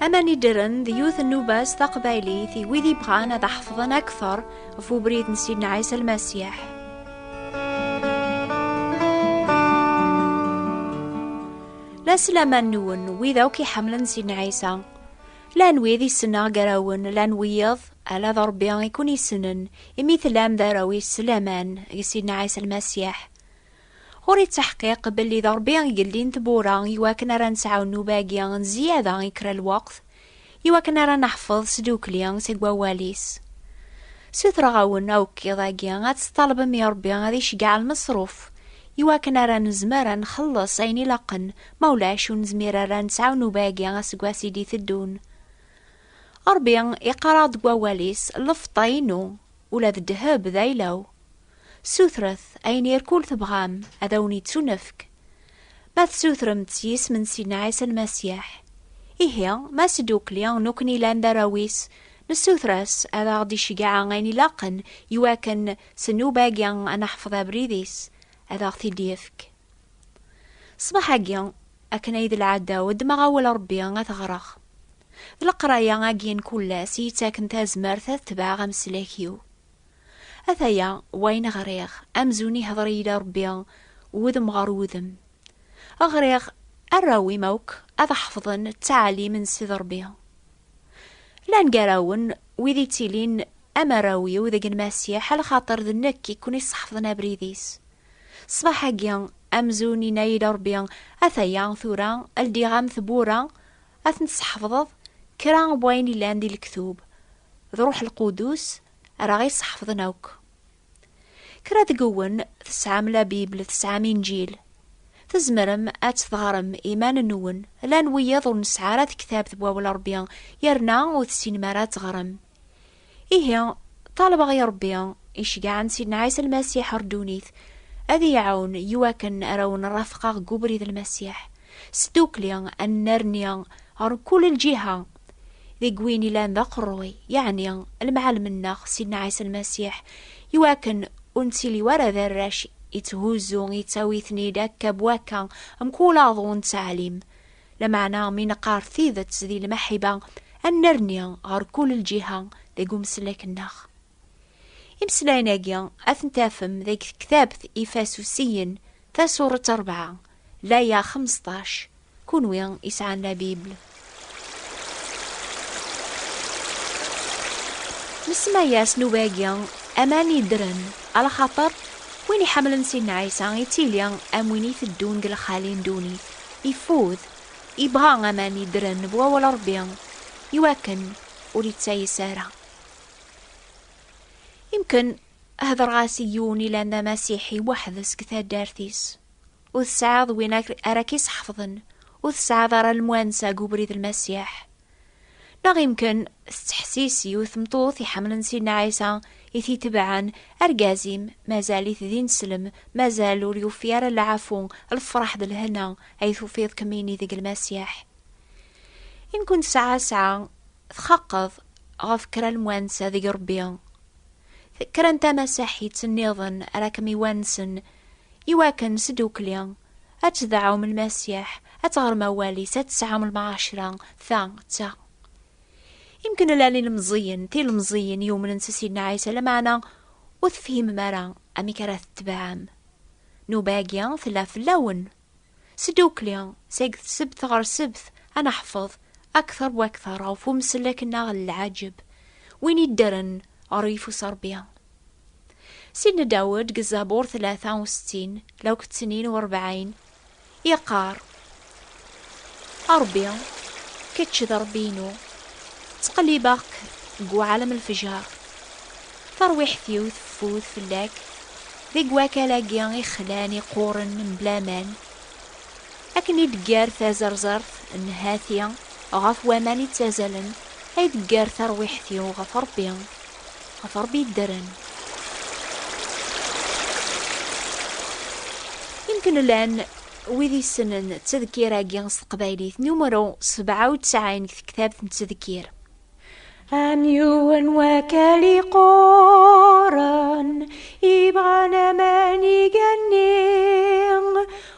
Aman iddren d yiwet n nubas taqbaylit i wid ibɣan ad ḥefḍen akteṛ ɣef ubrid n Sidna Ɛisa Lmasiḥ. La selaman nwen wid akk iḥemmlen Sidna Ɛisa. Llan wid i ssneɣ gar-awen, llan wiyaḍ, ala d Rebbi i ken-yessnen, imi tellam d arraw-is s laman, deg Sidna Ɛisa Lmasiḥ. Ɣur-i ttaḥqiq belli d Rebbi i yellin tewwura i wakken ara nesɛu nnuba-agi n zzyada i kra n lweqt, i wakken ara neḥfeḍ s ddukkli seg wawal-is. Sutreɣ-awen akk iḍ-agi ad tt-tṭalbem i Rebbi ad iceggeɛ lmeṣruf, i wakken ara nezmer ad nxelleṣ ayen ilaqen Ma ulac ur nezmir ara ad nesɛu nnuba-agi aseggas i d-iteddun. Ṛebbi iqqar-aɣ-d deg wawal-is, Lfeṭṭa inu, ula d ddheb d ayla-w. Sutret ayen irkul tebɣam, ad awen-ittunefk. Ma tessutrem-tt s yisem n Sidna Ɛisa Lmasiḥ, ihi ma sdukli nukni llan d arraw-is, nessuter-as ad aɣ-d-iceggeɛ ayen ilaqen iwakken s nnuba-agi ad neḥfeḍ abrid-is, ad aɣ-t-id-yefk. Ṣṣbeḥ-agi, akken ay d lɛada-w, ddmeɣ awal Ṛebbi ad t-ɣreɣ. D leqraya-agi n kul ass i yi-ttaken tazmert ad tebɛeɣ ameslak-iw. Ataya wayen ɣriɣ, amzun ihdeṛ-iyi-d Ṛebbi wudem ɣer wudem. Ɣriɣ, Arraw-im akk ad ḥefḍen ttɛalim n Ssid Ṛebbi. Llan gar-awen wid yettilin am arraw-iw deg Lmasiḥ, a lxaṭer d nekk i ken-iṣeḥfḍen abrid-is. Ṣṣbeḥ-agi, amzun yenna-yi-d Ṛebbi, Ataya, tura, ldiɣ-am tewwura, ad tent-tesḥefḍeḍ, kra n wayen yellan di lektub, d Ṛuḥ Lqudus ara ɣ-iseḥefḍen akk. Kra deg-wen tesɛam la Bible, tesɛam Inǧil. Tzemrem ad tt-teɣrem iman-nwen. Llan wiyaḍ ur nesɛi ara tektabt n Wawal Ṛebbi, yerna ur tessinem ara ad teɣrem. Ihi, ṭalbeɣ i Ṛebbi icegɛen Sidna Ɛisa Lmasiḥ ɣer ddunit, ad iyi-iɛawen i wakken ara wen-rafqeɣ deg ubrid n Lmasiḥ, sdukli ad nnerni ɣer mkul lǧiha, deg win ilan d aqerruy, yeɛni Lemɛallem-nneɣ Sidna Ɛisa Lmasiḥ, i wakken ur nettili wara d arrac itthuzzu, yettawi-ten-id akka b wakka mkul aḍu n ttɛalim. Lameɛna mi neqqar tidet di lmaḥiba, ad nerni ɣer kul lǧiha deg umeslak-nneɣ. Imeslayen-agi ad ten-tafem deg tektabt Ifasusiyen, tasuret rebɛa, laya xemseṭṭac, Kunwi isɛan la Bible. Nsemma-yas nnuba-agi Aman yeddren, alaxaṭer win iḥemmlen Sidna Ɛisa yettili am win iteddun deg lexali n ddunit. Ifud, yebɣa aman yeddren bu awal Ṛebbi i wakken ur yettayes ara. Imken hedreɣ-as i yiwen ilan d amasiḥi weḥd-s deg taddart-is. Ur tesɛiḍ win ara k-iseḥfḍen, ur tesɛiḍ ara lemwansa deg ubrid Lmasiḥ, Neɣ imken tettḥessis yiwet tmeṭṭut iḥemmlen Sidna Ɛisa i t-itebɛen, Argaz-im mazal-it d ineslem, mazal ur yufi ara lɛafu, lfeṛḥ d lehna ay tufiḍ kemmini deg Lmasiḥ. Imken tesɛa sɛa txaqeḍ ɣef kra lemwansa deg Ṛebbi. Kra n tamasaḥit nniḍen ara kem-iwansen iwakken s ddukkli Ad tedɛum Lmasiḥ, ad teɣrem awal-is, ad tesɛum lmɛacra, ta d ta. Imken llan ilemẓiyen, tilemẓiyin yumnen s Sidna Ɛisa, lameɛna ur tefhimem ara amek ara tetbeɛem. Nnuba-agi tella fell-awen. Sdukli, seg tsebt ɣer sebt, ad neḥfeḍ akter wakter ɣef umsellek-nneɣ n lɛaǧeb, win iddren ɣer uyeffus n Rebbi. Sidna Dawed deg Zabur tlata u settin law kettnin u rebɛin yeqqar, A Rebbi, kečč d Rebbi-inu, ttqellibeɣ-k deg uɛalem n lefjer, tarwiḥt-iw teffud fell-ak deg wakal-agi ixlan iqquren mebla aman, akken i d-teggar tazerzert n hati ɣef waman ittazalen, ay teggar tarwiḥt-iw ɣef Rebbi. ɣef Ṛebbi yeddren. Imken llan wid yessnen ttedkir-agi s teqbaylit, numru sebɛa u tesɛin deg tektabt n ttedkir. Am yiwen wakal iqquren, ibɣan aman igenni,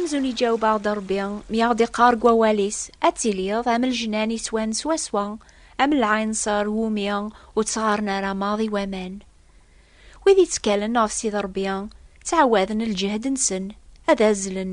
amzun iǧaweb-aɣ-d Ṛebbi mi aɣ-d-iqqar deg wawal-is ad tiliḍ am lejnan iswan swaswa am lɛinṣer wumi ur ttɣaren ara maḍi waman. Wid ittkalen ɣef Sidi Ṛebbi ttɛawaden lǧehd-nsen ad azzlen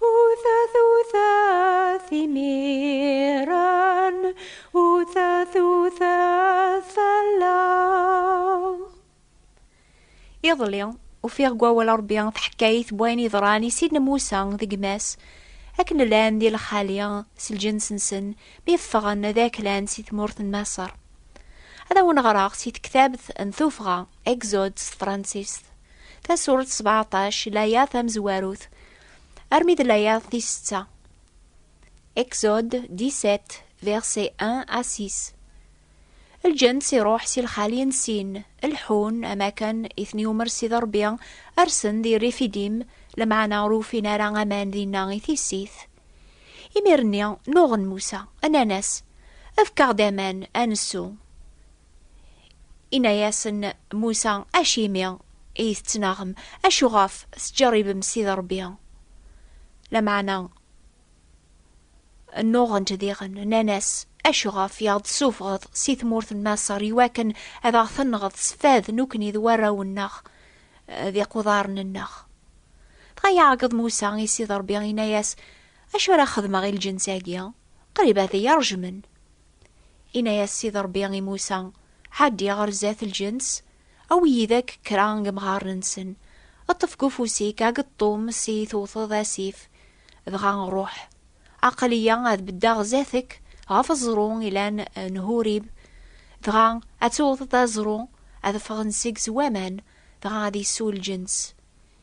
Utat utat imiran, utat utat fell-aɣ. Iḍelli, ufiɣ deg wawal Ṛebbi taḥkayt n wayen yeḍran i sidna Musa d gma-s, akken llan di lxali s lǧens-nsen mi ffɣen ad aklan si tmurt n Maṣer. Ad awen-ɣreɣ si tektabt n tuffɣa, Exode s tefransist. Tasuret sebeɛṭac, laya tamezwarut, armi d laya tis setta. Exode 17, verset 1 à 6. Lǧen si ruḥ si lxali n sin, lḥun, am akken i ten-yumer Sidi Ṛebbi, rsen di Rifidim, lmeɛna ur ufin ara aman dinna i tissit. Imir-nni, nuɣen Musa, nnan-as, Efk-aɣ-d aman, ad nessu. Inna-yasen Musa, Acimi i tettnaɣem? Acuɣef tettjeṛṛibem Sidi Ṛebbi? Lameɛna nnuɣent diɣen, nnan-as, Acuɣef i aɣ-d-tessufɣeḍ si tmurt n Maṣer iwakken ad aɣ-tenɣeḍ s fad nekkni d warraw-nneɣ d iquḍaren-nneɣ? Dɣa iɛeggeḍ Musa i Sidi Ṛebbi, inna-yas, Acu ara xedmeɣ i lǧens-agi? Qrib ad iyi-ṛejmen. Inna-yas Sidi Ṛebbi i Musa, Ɛeddi ɣer zdat lǧens, awi yid-ek kra n yemɣaren-nsen, ṭṭef deg ufus-ik ageṭṭum s i tewteḍ asif, dɣa ṛuḥ. Aql-iyi ad beddeɣ zdat-k ɣef uẓru ilan n Hurib, dɣa ad tewteḍ aẓru, ad ffɣen seg-s waman, dɣa ad yessu lǧens.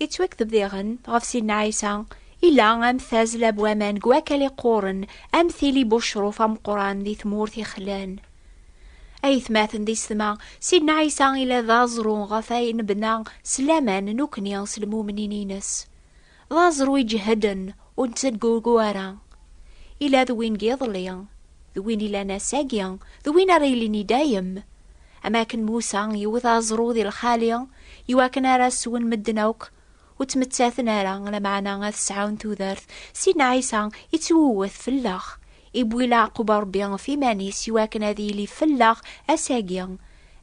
Yettwakteb diɣen ɣef Sidna Ɛisa ila am tazla n waman deg wakal iqquren am tili n ucruf ameqqran di tmurt ixlan. Aytmaten di setma, Sidna Ɛisa ila d aẓru ɣef ay nebna s laman nekkni s lmumnin-nnes. D aẓru iǧehden ur nettedgugu ara. Ila d win n yiḍelli, d win ilan ass-agi, d win ara yilin i dayem. Am akken Musa iwet aẓru di lxali i wakken ara as-swen medden akk, ur ttmettaten ara, lameɛna ad sɛun tudert, Sidna Ɛisa ittwewwet fell-aɣ, iwwi leɛqub Rebbi ɣef iman-is i wakken ad yili fell-aɣ ass-agi,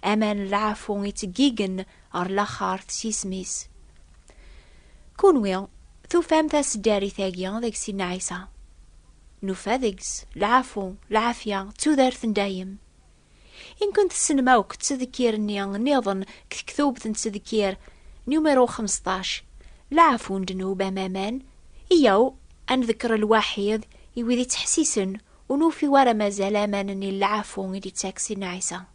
aman n lɛafu ittggigen ɣer laxart s yisem-is. Kunwi tufam taseddarit-agi deg Sidna Ɛisa? Nufa deg-s lɛafu, lɛafya, d tudert n dayem. Inken tessnem akk ttedkir-nni nniḍen deg tektubt n ttedkir numéro xmesṭac, lɛafu n ddnub amaman, iyyaw ad ndekker lwaḥid i wid ittḥessisen ur nufi wara mazal aman-nni n lɛafu i d-ittak Sidna Ɛisa.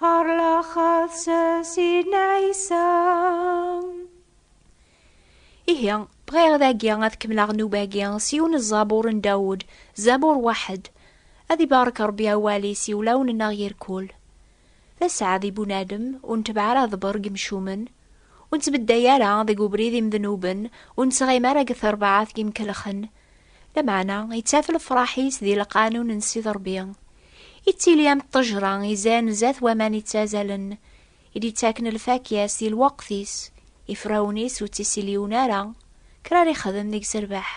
Ar laxaḍ s sin ɛisa. Ihi, bɣiɣ dagi ad kemmleɣ nnuba-agi s yiwen n ẓabur n Dawed, Zabur Waḥed. Ad ibarek Ṛebbi awal-is i wulawen-nneɣ yir kul. D aseɛd i bunadem, ur netbeɛ ara aḍebber deg yimcumen, ur nettbedday ara deg ubrid imednuben, ur nettɣim ara deg terbaɛt n yimkelxen. Lameɛna ittaf lefraḥ-is di lqanun n Sidi Ṛebbi. Ittili am ṭṭejra izan zdat waman ittazalen, i d-ittaken lfakya-s di lweqt-is, ifrawen-is ur ttisiliwen ara, kra ara ixdem deg-s rrbeḥ.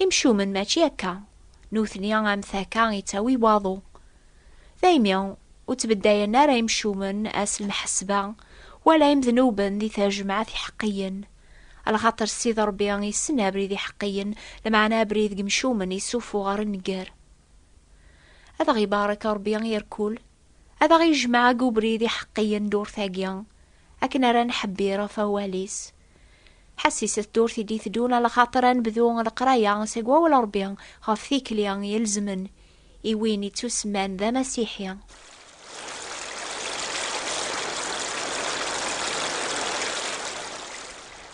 Imcumen mačči akka, nutni am takka ittawi waḍu. Daymi ur ttbeddayen ara imcumen ass lmeḥsba, wala imednuben di tajmaɛt iḥeqqiyen. Lxaṭer Ssid Ṛebbi issen abrid iḥeqqiyen, lmeɛna abrid n yemcumen issufuɣ ɣer nnger. Ad aɣ-ibarek Ṛebbi i rkul, ad aɣ-ijmeɛ deg ubrid iḥeqqiyen ddurt-agi, akken ara nḥebbir ɣef wawal-is. Ḥessis ddurt i d-iteddun, lxaṭer ad nebdu leqraya seg Wawal Ṛebbi ɣef tikli ilezmen, i win ittusemman d amasiḥi.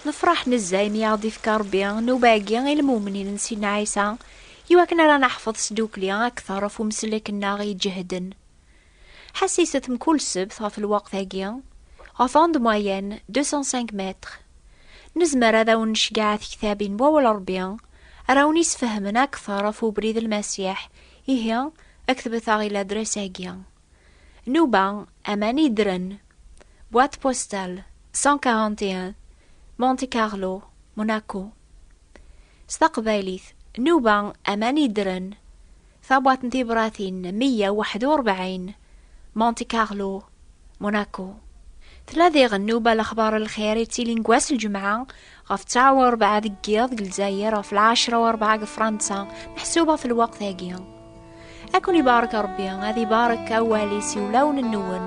Nefraḥ nezza imi i aɣ-d-ifka Rebbi nnuba-agi i lmumnin n Sidna Ɛisa, iwakken ara naḥfeḍ s ddukkli akteṛ ɣef umsellek-nneɣ iǧehden. Ḥessiset mkul ssebt ɣef lweqt-agi, ɣef onde moyenne 205 mètres. Nezmer ad awen-necgeɛ tektabin n Wawal n Rebbi ara awen-yesfehmen akteṛ ɣef ubrid n Lmasiḥ, ihi ktbet-aɣ i ladres-agi. Nuba, Aman Yeddren, boîte postale 141, Monte Carlo, Monaco. S taqbaylit, Nuba, Aman Yeddren. Tabwaḍt n tibṛatin meyya u waḥed u rebɛin, Monte Carlo, Monaco. Tella diɣen newba lexbar n lxir yettilin deg wass n lǧemɛa, ɣef ttaɛa u rebɛa deg yiḍ deg Lezzayer, ɣef lɛecṛa u rebɛa deg Fṛansa, meḥsub ɣef lweqt-agi. Ad ken-ibarek Ṛebbi, ad ibarek awal-is i wulawen-nwen.